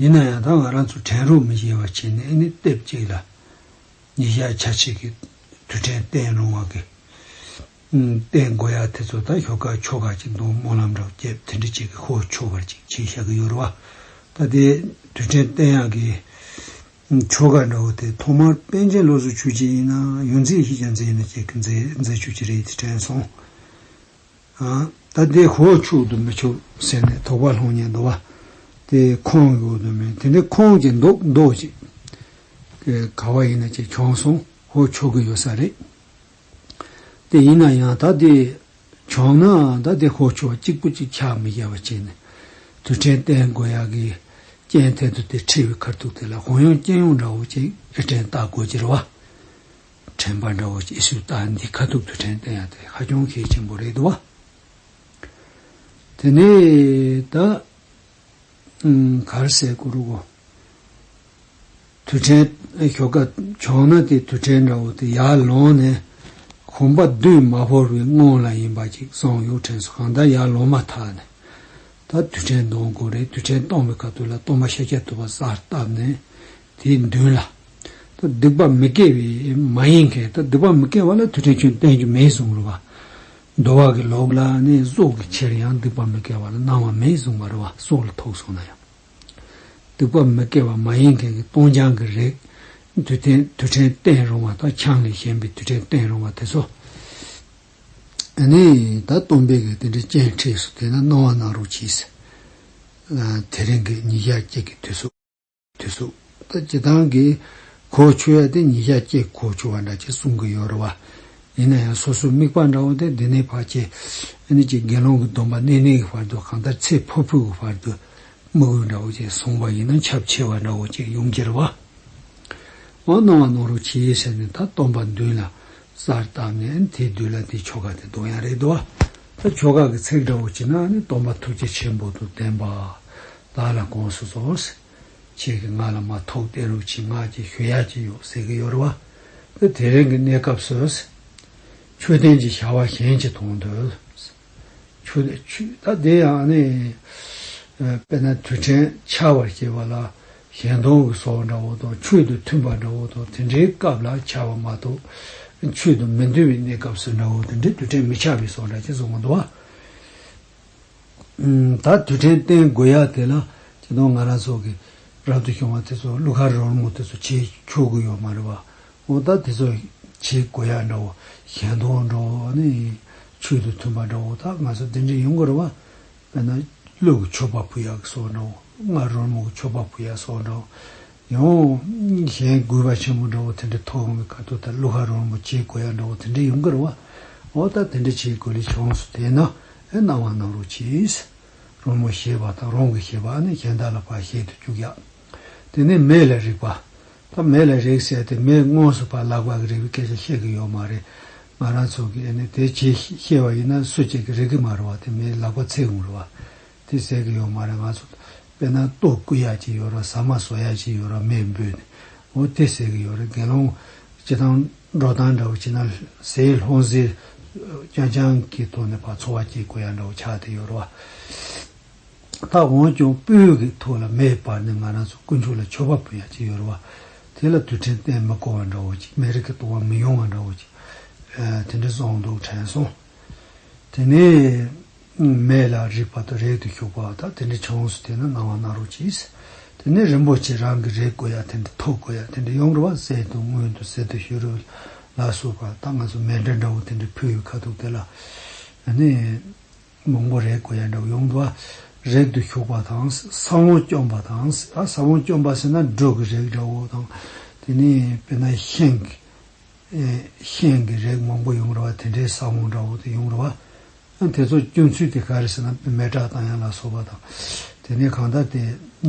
ཡིན་ན་ཡང་ད་ང་རང་ཚོ་དྲན་རུང་མི་གཡེལ་བ་བྱས་ནས་ཨེ་ནི་ལྟེབ་གཅིག་ལ་ཉིས་ཞག་ཆ་གཅིག་གི་དུས་དྲན་བསྟན་རུང་བ་གི། བསྟན་དགོས་ཡག་དེ་ཚོ་ད་ཞོག་ཁ་ཕྱོགས་ཁ་ཅིག་འདུག་སྨོན་ལམ་འདྲ་བྱེད་དེ་འདྲི་ཅིག་གི་ཁོ་བོ་ཆོས་པར་ཅིག་བྱེད་བཞག་གི་ཡོད་རུ་བ། ད་དེ་དུས་དྲན་བསྟན་ཡག་གི། ཆོས་ཁ་འདྲ་བོ་དེ་ཐོག་མར་པན་ཆེན་བློ་གཟུ་ཆུ་གཅིག་ཡིན་ན་ཡོད་མཛེས་ཤིག་ཀྱང་མཛེས་ཡིན་ན་ཅིག་གི་མཛེས་མཛེས་ཆུ་གཅིག་རེད་དེ་དྲན་སོང། ད་ལྟའི་ཁོ་བོ་ཆུག་ཏུ་མི་ཆུག་ཟེར་ནས་དོགས་པ་ལྷུང་ཉེན་འདུག་བ། དེ་ཁོང་གི་འོག་ཏུ་མེད། དེ་འདྲའི་ཁོང་གི་འདུག་འདུག་ཅིག་ག་བ་ཡིན་ན་ཅིག་བྱུང་སོང་ཧོ་ཆུག་གི་ཡོད་ས་རེད། དེ་ཡིན་ན་ཡང་ད་ལྟའི་བྱུང་ན་ད་ལྟའི་ཁོ་ཆུག་བ་གཅིག་པུ་གཅིག་ཆག་མི་རྒྱ་བ་བྱས་ནས་དུས་དྲན་བསྟན་དགོས་ཡག་གི་རྐྱེན་ཐད་དུ་དེ་ཁྲིད་བའི་ཁར་ཐུག་དེ་ལ་གོང་ཡོང་རྐྱེན་ཡོང་འདྲ་བོ་ཅིག་ཨེ་དྲན་བལྟ་དགོས་ཀྱི་རེད་བ། དྲན་པ་འདྲ་བོ་སྐྱེས་ཚུལ་ལྟར་འདི་ཁ་ཐུག་ཏུ་དྲན་བསྟན་ཡ་དེ་ཧ་ཅང་གལ་ཆེན་པོ་རེད་དོ། དེ་ནས་ད་གར་སའི་གུ་རུ་གོ། དུས་དྲན་ཞོག་ཀ་བྱུང་ན་དེ་དུས་དྲན་འདྲ་བོ་དེ་ཡར་ལོངས་ནས་གོམ་པ་བདུན་མ་བོར་བའི་སྔོན་ལ་ཡིན་པ་ཅིག་སང་གཡོག་དྲན་སོ་གང་ལྟར་ཡར་ལོངས་མ་ཐག་ནས་ད་དུས་དྲན་གཏོང་དགོས་རེད་དུས་དྲན་གཏོང་བའི་སྐབས་དུས་ལ་སྟོང་པ་ཤ་རྒྱགས་ཐུབ་པ་གསར་བཏབ་ནས་དེའི་མདུན་ལ། ད་སྡིག་པ་མི་དགེ་བའི་མ་ཡིན་མཁན་ད་སྡིག་པ་མི་དགེ་བ་ལ་དུས་དྲན་ཁྱོད་བསྟན་རྒྱུ་མེད་གསུངས་རོ་བ། མདོ་བ་གི་ལོགས་ལ་ནི་སྲོག་གི་ཕྱིར་ཡང་སྡིག་པ་མི་དགེ་བ་ལ་གནང་བ་མེད་གསུངས་པར་བ་སྲོག་ལ་ཐོགས་གསུངས་ན་ཡང། སྡིག་པ་མི་དགེ་བ་མ་ཡིན་མཁན་གྱི་སྟོང་རྐྱང་གི་རིགས་དུས་དྲན་དུས་དྲན་བསྟན་རུང་བ་དང་ཆང་ལས་གཞན་པའི་དུས་དྲན་བསྟན་རུང་བ་དེ་ཚོ་ནི་ད་སྟོང་པའི་གི་དེ་འདྲའི་སྤྱན་འཁྲིས་སུ་དེ་ན་གནང་བ་གནང་རོགས་གྱིས། དེ་རིང་གི་ཉིས་བརྒྱ་བརྒྱད་ཀྱི་དུས་སུ། དུས་སུ། ད་ཅི་སྟངས་ཀྱིས་གོ་ཆོད་ཡ་དེ་ཉིད་ཤ་ཀྱེས་གོ་ཆོད་བ་འདྲ་ཅེས་གསུང་གི་ཡོད་རེད་བ། ཡིན་ན་ཡང་སོ་སོའི་དམིགས་པ་འདྲ་བོ་དེ་འདི་ནས་བར་ཆད་ཨེ་ནུས་ཀྱི་དགེ་སློང་གི་སྡོམ་པ་གནས་གནས་ཀྱི་བར་དུ་གང་ལྟར་ཚེ་འཕོས་འཕོས་ཀྱི་བར་དུ་དམིགས་ཡུལ་འདྲ་བོ་ཅེས་གསུངས་པ་ཡིན་ན་ཁྱབ་ཆེ་བ་འདྲ་བོ་ཅིག་ཡོང་གི་རེད་བ། འོ་སྣང་བ་སྣང་རོགས་བྱས་ཟེར་ནས་ད་སྟོང་པ་མདུན་ལ་གསར་བཏབ་ནས་ཨེ་ནི་དེའི་དུས་ལ་དེའི་ཆོ་ག་དེ་འདོན་ཡ་རེད་བ། ད་ཆོ་ག་གི་ཚིག་འདྲ་བོ་བྱས་ན་ཨེ་ནི་སྟོང་པ་ཐུགས་རྗེ་ཆེན་པོ་དུ་ལྡན་པ། བདག་ལ་དགོངས་སུ་གསོལ། ཁྱེད་ཀྱི་ང་ལ་མ་ཐོགས་པའི་ལུགས་ཀྱི་ངག་གི་ཞུ་ཡག་ཅིག་ཡོད་ཟེར་གྱི་ཡོད་རེད་བ། དེ་དེ་རིང་གི་གནས་སྐབས་སུ། མཆོད་རྟེན་གྱི་བྱ་བ་གཞན་གྱིས་མཐོང་འདོད། མཆོད། ད་དེ་ཡང་ནི། དཔེར་ན་དུས་དྲན་འཆར་བར་བྱེད་པ་ལ་གཞན་སྟོང་གི་སྲོག་འདྲ་བོ་དང་མཆོད་དུ་མཐུན་པ་འདྲ་བོ་དང་དེ་འདྲའི་སྐབས་ལ་འཆར་བ་མ་གཏོགས། མཆོད་དུ་མི་འདུས་པའི་གནས་སྐབས་སུ་འདྲ་བོ་དེ་འདྲའི་དུས་དྲན་མི་འཆར་བའི་སྲོག་འདྲ་ཅིག་བཟུང་གི་འདུག་བ། ད་དུས་དྲན་བསྟན་དགོས་ཡ་དེ་ལ་ཁྱེད་དང་ང་རང་སོགས་ཀྱིས་རབ་ཏུ་བྱུང་བ་དེ་ཚོ་གླུ་གར་རོལ་མོ་དེ་ཚོ་བྱེད་ཆོག་གི་ཡོད་མ་རེད་པ། འོ་ད་དེ་ཚོ་བྱེད་དགོས་ཡ་འདྲ་བོ་གཞན་དོན་འདྲ་བོ་ནི་ཆོས་དང་མཐུན་པ་འདྲ་བོ་དག་ང་ཚོ་དེ་འདྲ་ཡོང་གི་རེད་པ། དཔེར་ན་གླུ་གི་ཆོ་པ་བུ་ཡག་གི་སོགས་འདྲ་བོ། གླུ་གར་རོལ་མོ་གི་ཆོ་པ་བུ་ཡག་སོགས་འདྲ་བོ། ཡང་གཞན་དགོས་པ་ཆེན་པོ་འདྲ་བོ་དེ་འདྲ་ཐོག་ངོ་མི་ཁ་ཐུག་ལྟར་ཀླུ་ཧ་རོལ་མོ་བྱེད་དགོས་ཡ་འདྲ་བོ་དེ་འདྲ་ཡོང་གི་རེད་བ། འོ་ད་དེ་འདྲ་བྱེད་དགོས་ལས་བྱུང་སོ་དེས་ན་ཨེ་གནང་བ་གནང་རོགས་གྱིས། རོལ་མོ་ཞེས་པ་དང་རོང་གི་ཞེས་པ་ནི་གཞན་དག་ལ་བར་བཤད་དུ་བཅུག་ཡ། དེ་ནས་མེ་ལ་རེག་པ། ད་མེ་ལ་རེག་ཟེར་ཏེ་མེས་དངོས་སུ་བར་བརླག་པར་རེག་པའི་སྐད་ཆ་བཤད་ཀྱི་ཡོད་མ་རེད། ང་རང་ཚོ་གིས་ཨེ་ནས་དེ་བྱེད་ཤེས་བ་ཡིན་ན་སུ་གཅིག་གིས་རེག་གི་མ་རེད་བ་དེ་མེས་བརླག་པ་ཚད་ཡོང་རེད་བ། དེ་ཟེར་གི་ཡོད་མ་རེད་ང་ཚོ་དཔེར་ན་ལྟོ་སྐུ་ཡག་ཅིག་ཡོད་རོགས་ཟ་མ་ཟོ་ཡག་ཅིག་ཡོད་རོགས་མེ་འབུད་ནས་འོ་དེ་ཟེར་གི་ཡོད་རེད་དགེ་སློང་སྤྱི་དང་འགྲོ་སྟངས་འདྲ་བོ་བྱེད་ན་ཟས་ལྷུང་ཟས་རྐྱང་རྐྱང་གི་ཐོག་ནས་འཚོ་བ་སྐྱེལ་དགོས་ཡག་འདྲ་བོ་ཆགས་དེ་ཡོད་རོགས་ཨ། ད་འོན་ཀྱང་སྤོས་ཀྱི་ཐུགས་ལ་མེ་སྤར་ནས་ང་རང་ཚོ་དཀོན་མཆོག་ལ་མཆོད་པ་འབུལ་ཡག་ཅིག་ཡོད་རོགས་དེ་ལ་དུས་དྲན་གཏན་མི་བསྐོ་བ་འདྲ་བོ་ཅིག་མེ་རི་ཀའི་ལྟོ་བ་མི་ཡོང་བ་འདྲ་བོ་ཅིག་དེ་འདྲ་སོང་འདུག་དྲན་སོང་དེ་ནས། སྔོན་མེད་ལ་རིག་པ་དང་རེག་ཏུ་གཞུག་པ་བ་དག་དེ་འདྲའི་ཆུང་ངུས་སུ་དེ་ནི་སྣང་བ་སྣང་རོགས་གྱིས། དེ་ནས་རིན་པོ་ཆེ་རང་གིས་རེག་དགོས་ཡ་དེ་འདྲ་ཐོས་དགོས་ཡ་དེ་འདྲའི་ཡོང་རེ་བ་བསད་དུ་སྔོན་དུ་ཟེར་དུ་ཤོད་རུ་ལ་སོགས་པ་དག་ང་ཚོ་མེ་འདྲ་འདྲ་བོ་དེ་འདྲའི་ཕུ་ཡུ་ཁ་ཐུག་དེ་ལ་ནི་མང་པོ་རེག་དགོས་ཡ་འདྲ་བོ་ཡོང་དུ་བ་རེག་ཏུ་གཞུག་པ་དང་ས་བོན་བསྐྱོམ་པ་དང་ས་བོན་བསྐྱོམ་པ་ཟེར་ན་སྒྲོས་ཀྱི་རེག་འདྲ་བོ་དང་དེ་ནས་དཔེར་ན་ཤིང་གི། གཤེན་གྱི་རེག་མང་པོ་ཡོང་རུང་བ་དེ་འདྲའི་ས་བོན་འདྲ་བོ་དེ་ཡོང་རུང་བ། དེ་ཚོ་སྐྱོན་ཚུལ་དེ་ག་རེ་ཟེར་ན་མེ་དྲག་དང་ཡང་ལ་སོགས་པ་དང། དེ་ནས་གང་ལྟར་དེ་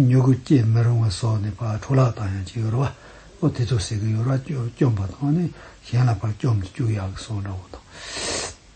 མྱུ་གུ་སྐྱེ་མི་རུང་བ་སོགས་ནི་བག་འཕྲོ་ལག་དང་ཡང་ཅི་ཡོད་རུང་བ། ཨོ་དེ་ཚོ་ཟེར་གི་ཡོད་རུང་བ་སྐྱོན་པ་དང་ནི་གཞན་ལ་བར་སྐྱོམ་དུ་བཅུག་ཡག་གི་སོགས་འདྲ་བོ་དང།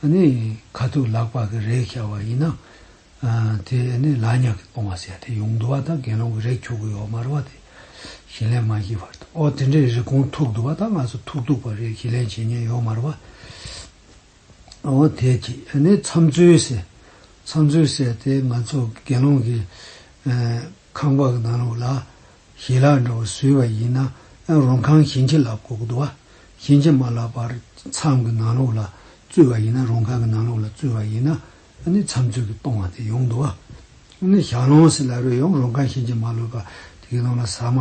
ཨ་ནི་ཁ་ཐུག་ལག་པགས་ཀྱི་རས་ཤར་བ་ཡིན་ན། དེ་ནི་ལག་ཉག་གིས་སྤོང་བ་ཟེར་ཡ་དེ་ཡོང་དུ་བ་དང་དགེ་སློང་གི་རས་འཁྱུག་གི་ཡོག་དམར་བ་དེ་ཞི་ལན་མ་བཞི་བར་དུ་ཨོ་དེ་འདྲའི་རི་གོང་ཐུག་དུ་བ་དང་ང་ཚོ་ཐུག་ཐུག་པ་རས་ཞི་ལན་བྱེད་ཉན་ཡོག་དམར་བ། ཨོ་དེ་ཀྱིས་ཨ་ནི་མཚམས་མཛོད་ཟེར་མཚམས་མཛོད་ཟེར་དེ་ང་ཚོ་དགེ་སློང་གི། ཁང་པ་གནང་རོགས་ལ། ཞལ་ལག་འདྲ་བོ་བཟོས་པ་ཡིན་ན་ཡང་རུང་ཁང་ཞེན་ཆེ་ལ་གོག་བསྡུ་བ་ཞེན་ཆེ་མ་ལགས་པར་མཚམས་ཀྱི་ནང་ལོགས་ལ་བཙུད་པ་ཡིན་ན་རུང་ཁང་གི་ནང་ལོགས་ལ་བཙུད་པ་ཡིན་ན་ནི་མཚམས་ཚུལ་གྱིས་སྟོང་བ་དེ་ཡོང་བསྡུ་བ་ནི་ཞག་ལོངས་སེ་ལ་རོལ་ཡང་རུང་ཁང་ཞེན་ཆེ་མ་ལོས་པ་དེའི་ནང་ལ་ཟ་མ།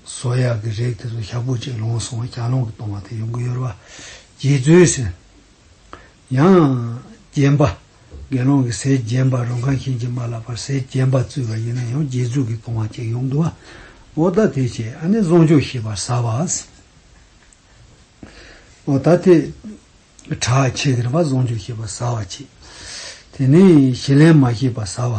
ཟོ་ཡག་གི་རེག་དེ་ཚོ་ཞག་པོ་གཅིག་ལོངས་སོང་བ་ཞག་ལོངས་ཀྱི་སྟོང་བ་དེ་ཡོང་གི་ཡོད་རེད་བ། རྗེ་བཙུན་སེམས། ཡང། རྒྱན་པ། དགེ་སློང་གིས་ཟས་རྒྱན་པ་རུང་ཁང་ཤིང་གཅིག་མ་ལགས་པར་ཟས་རྒྱན་པ་བཙུད་པ་ཡིན་ན་ཡང་རྗེས་འཇུག་གིས་བཏུང་བ་བཅས་ཡོང་དུ་བ། ཨོ་ད་དེ་བྱས་ཨ་ནི་བཟང་ཕྱོགས་ཤེས་པར་ཟ་བ། ཨོ་ད་དེ། གྲྭ་ཆེ་གེར་བ་བཟང་ཕྱོགས་ཤེས་པར་ཟ་བ་བྱས། དེ་ནས་ཞེ་ལན་མ་ཤེས་པར་ཟ་བ།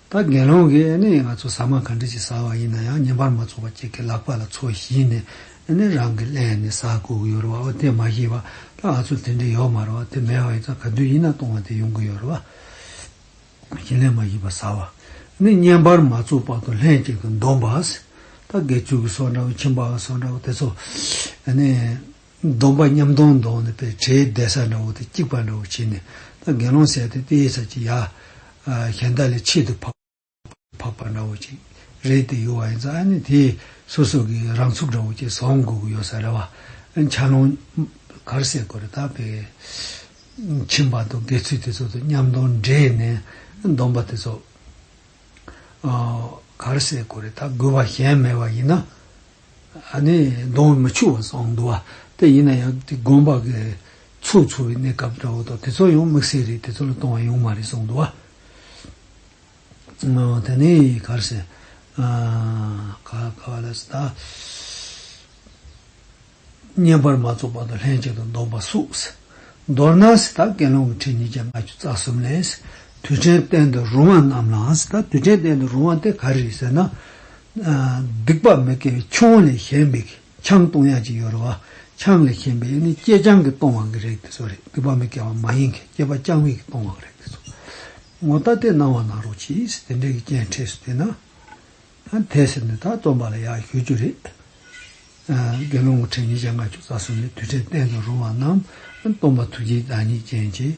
ད་དགེ་སློང་གིས་ཨེ་ནས་ང་ཚོ་ཟ་མ་ག་འདྲི་ཅིག་ཟ་བ་ཡིན་ན་ཡང་ཉིན་པར་མ་ཚོགས་པར་ཁྱེད་ཀྱི་ལག་པ་ལ་ཚོ་བཞིན་ནས་ཨེ་ནས་རང་གི་ཀླད་ནས་ཟ་དགོས་ཀྱི་ཡོད་རེད་བ་ཨོ་དེ་མ་ཤེས་པ་ད་ང་ཚོར་དེ་འདྲས་ཡོད་མ་རེད་བ་དེ་མེད་བ་ཡིན་ཙང་ག་དུས་ཡིན་ན་སྟོང་བ་དེ་ཡོང་གི་ཡོད་རེད་བ། བཞིན་ལས་མ་ཤེས་པ་ཟ་བ་ཨེ་ནས་ཉིན་པར་མ་ཚོགས་པར་དུ་ལྷན་ཅིག་ཏུ་འདོམས་པ། ད་དགེ་ཚུལ་གྱི་སོགས་འདྲ་བོ་ཁྱིམ་པའི་སོགས་འདྲ་བོ་དེ་ཚོ་ཨེ་ནས། སྡོམ་པ་མཉམ་སྡོམ་མདོག་ནི་པའི་དྲེའི་གདལ་ས་འདྲ་བོ་དང་སྐྱིགས་པ་འདྲ་བོ་བྱས་ནས་ད་གེ་སློང་བསད་དེ་དེའི་ཚབ་ཀྱིས་ཡ། གཞན་དག་ལས་ཆེད་དུ་འཕགས། འཕགས་པ་འདྲ་བོ་ཅིག་རེད་དེ་ཡོད་བ་ཡིན་ཙང་ཨ་ནི་དེས་སོ་སོ་གི་རང་ཚུགས་འདྲ་བོ་ཅིག་བཟོ་དགོས་ཀྱི་ཡོད་ས་རེད་བ། འཆའ་སློང། གར་བསད་དགོས་རེད་ད་པའི། ཁྱིམ་པ་དང་དགེ་ཚུལ་དེ་ཚོ་དང་མཉམ་སྡོམ་འདྲེས་ནས་སྡོམ་པ་དེ་ཚོ། གར་བསད་དགོས་རེད་ད་དགོས་བ་གཞན་མེད་བ་ཡིན་ན། ནི་གདོང་མི་ཕྱུག་བ་སོགས་འདུ་བ་སྟེ་ཡིན་ན་ཡང་དེ་སྒོམ་པ་གི་ཚུགས་འཚོ་བའི་གནས་སྐབས་འདྲ་བོ་དང་དེ་ཚོ་ཡང་དམིགས་བསལ་རེད་དེ་ཚོ་ལ་གཏོང་བ་ཡོང་མ་རེད་སོགས་འདུ་བ། དེ་ནས་གར་སེ། ག་བ་ལ་སི་ད། བསྙེན་པར་མ་རྫོགས་པར་དུ་ལྷན་ཅིག་ཏུ་འདོམས་པ་བསུགས། མདོར་ན་སི་ད་དགེ་སློང་གི་ཁྲི་ཉིས་བརྒྱ་ལྔ་བཅུ་རྩ་གསུམ་ལས། དུས་དྲན་བསྟན་དུ་རུང་བ་རྣམས་ལའང་སི་ད་དུས་དྲན་བསྟན་དུ་རུང་བ་དེ་ག་རེ་རེད་ཟེར་ན། སྡིག་པ་མི་དགེ་བའི་ཆུང་བ་ལས་གཞན་པའི་ཆང་བཏུང་ཡ་གཅིག་ཡོད་རེད་བ། ཆང་ལས་གཞན་པའི་ནི་སྐྱེས་ཆང་གིས་བཏུང་བ་གི་རེད་དེ་ཚོ་རེད་སྡིག་པ་མི་དགེ་བ་མ་ཡིན་གི་སྐྱེས་པ་རྐྱང་མིག་གིས་བཏུང་བ་གི་རེད་དེ་ཚོ། ངོ་ད་ལྟའི་སྣང་བ་ནང་རོ་ཕྱིས་དེ་འདྲའི་གི་རྐྱེན་འཕྲད་སུ་བལྟས་ན། དེ་ཟེར་ནས་ད་རྩོམ་པ་ལ་ཡག་ཞུ་རྒྱུ་རེད། དགེ་སློང་དགུ་ཕྲད་ཉིས་བརྒྱ་ལྔ་བཅུ་རྩ་གསུམ་ནས་དུས་ཕྲད་བསྟན་དུ་རུང་བ་རྣམས་རྩོམ་པ་ཐུགས་རྗེའི་བདག་ཉིད་ཅན་གྱིས།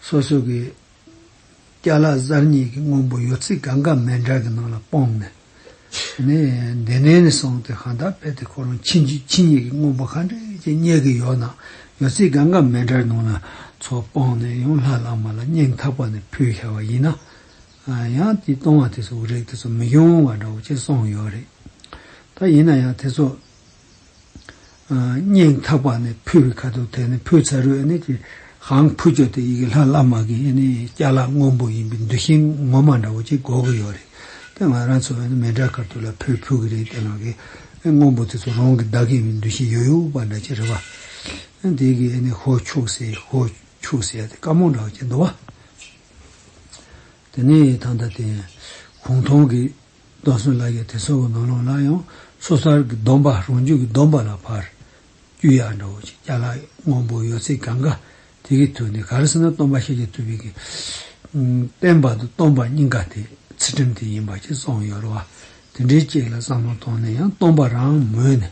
སོ་སོ་གི་སྐྱ་ལག་གཟར་གཉིས་ཀྱི་སྔོན་པོ་ཡོ་ཚིག་གང་གཱ་མེ་འདྲ་གི་ནང་ལ་སྤངས་ནས། ནི། འདི་ནས་ནི་སོང་སྟེ་གང་དག་བས་དེ་ཁོ་རང་ཕྱིན་ཅི་ཕྱི་གཉིས་ཀྱི་སྔོན་པོ་གང་དྲན་གྱི་སྙེད་ཀྱི་ཡོ་ནང་ཡོ་ཚིག་གང་གཱ་མེ་འདྲ་གི་ནང་ལ་ཚོགས་སྤངས་ནས་ཡང་ལྷ་བླ་མ་ལ་སྙིང་ཐག་པ་ནས་ཕུལ་ཤར་བ་ཡིན་ན། ཡང་དེ་གཏོང་བ་དེ་ཚོ་རིགས་དེ་ཚོ་མི་འབྱུང་བ་འདྲ་བོ་ཅི་སོང་ཡོད་རེད། ད་ཡིན་ན་ཡང་དེ་ཚོ། སྙིང་ཐག་པ་ནས་ཕུལ་བའི་ཁ་དོག་དེ་ནི་ཕུལ་ཚ་རུའི་ཨེ་ནི་ཧང་ཕུ་ཅོ་དེ་ཡི་གེ་ལྷ་བླ་མ་གི་ཨེ་ནི་སྐྱ་ལག་སྔོན་པོ་ཡིན་པའི་འདུ་ཤེས་ངོ་མ་འདྲ་བོ་ཅིག་གོ་གི་ཡོད་རེད་དེ་ང་རང་ཚོ་ཨེ་ནི་མེ་དགྲ་དཀར་ཐུག་ལ་ཕུལ་ཕུལ་གི་རེད་དེ་ལག་གི་ཨེ་སྔོན་པོ་དེ་ཚོ་རང་གི་བདག་གི་འདུ་ཤེས་ཡོད་ཡོད་པ་འདྲ་ཅིག་རེད་བ། དེ་གི་ཨེ་ནི་ཧོ་ཕྱུག་ཟེ་ཧོ་ཕྱུག་ཟེ་དེ་དཀར་མོ་འདྲ་བོ་ཅིག་འདུག་བ། དེ་ནི་ད་ལྟ་དེ་གུང་ཐང་གི་རྡོ་སོལ་ལ་ཡོད་དེ་སོལ་བུ་ནོར་ལོངས་ལ་ཡང་སོ་སར་གྱི་སྡོམ་པ་རང་རྒྱུད་ཀྱི་སྡོམ་པ་ལ་ཕར་རྒྱུད་ཡར་འགྲོ་བ་ཅིག་སྐྱ་ལག་སྔོན་པོ་ཡོད་ཚད་གང་གཱ་དེ་གའི་དུས་ནས་ག་རེ་ཟེར་ན་སྟོན་པ་ཤཱ་ཀྱ་ཐུབ་བི་ཀའི་བསྟན་པ་དང་སྟོན་པ་སྙིང་ག་དེ་ཚུལ་ཁྲིམས་དེ་ཡིན་པ་ཅིག་བསམ་ཡོད་རུང་བ་དེ་འདྲའི་ཅིག་ལ་བསམ་བློ་བཏང་ནས་ཡང་སྟོན་པ་རང་མོས་ནས་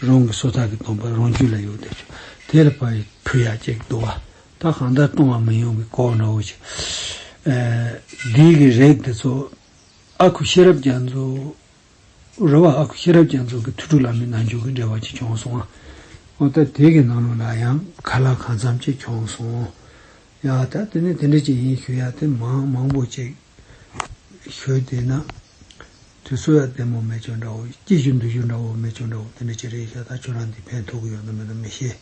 རང་གི་སོ་ཐར་གྱི་སྡོམ་པ་རང་རྒྱུད་ལ་ཡོད་དེ་ཆུ་དེ་ལ་ཕར་ཕུལ་ཡག་ཅིག་འདུག་བ་ད་གང་ལྟར་སྟོན་བ་མི་ཡོང་གི་སྐོར་འགྲོ་བ་ཅིག་འདིའི་གི་རེག་དེ་ཚོ། ཨ་ཁུ་ཤེས་རབ་རྒྱ་མཚོ། རེད་བ། ཨ་ཁུ་ཤེས་རབ་རྒྱ་མཚོ་གི་ཐུགས་ཁྲོ་ལ་མི་ནང་འཇུག་གི་འབྲེལ་བ་ཅིག་བྱུང་སོང། ཨོ་ད་དེ་གི་ནང་ལོགས་ལ་ཡང་ཁ་ལག་གང་འཚམ་ཅིག་བྱུང་སོང། ཡ་ད་དེ་ནི་དེ་འདྲ་ཅིག་ཡིན་ཞུ་ཡ་དེ་མང་མང་པོ་ཅིག་ཞུས་དེ་ན། དུས་ཚོད་ཡ་དེ་མོ་མེད་ཅོ་འདྲ་བོ་སྐྱིད་བཞུ་འདུས་བཞུ་འདྲ་བོ་མེད་ཅོ་འདྲ་བོ་དེ་འདྲ་ཅིག་རེད་ཤ་ད་ཁྱོད་རང་འདི་ཕན་ཐོག་གི་ཡོད་ནམ་མེད་ནམ་མི་ཤེས།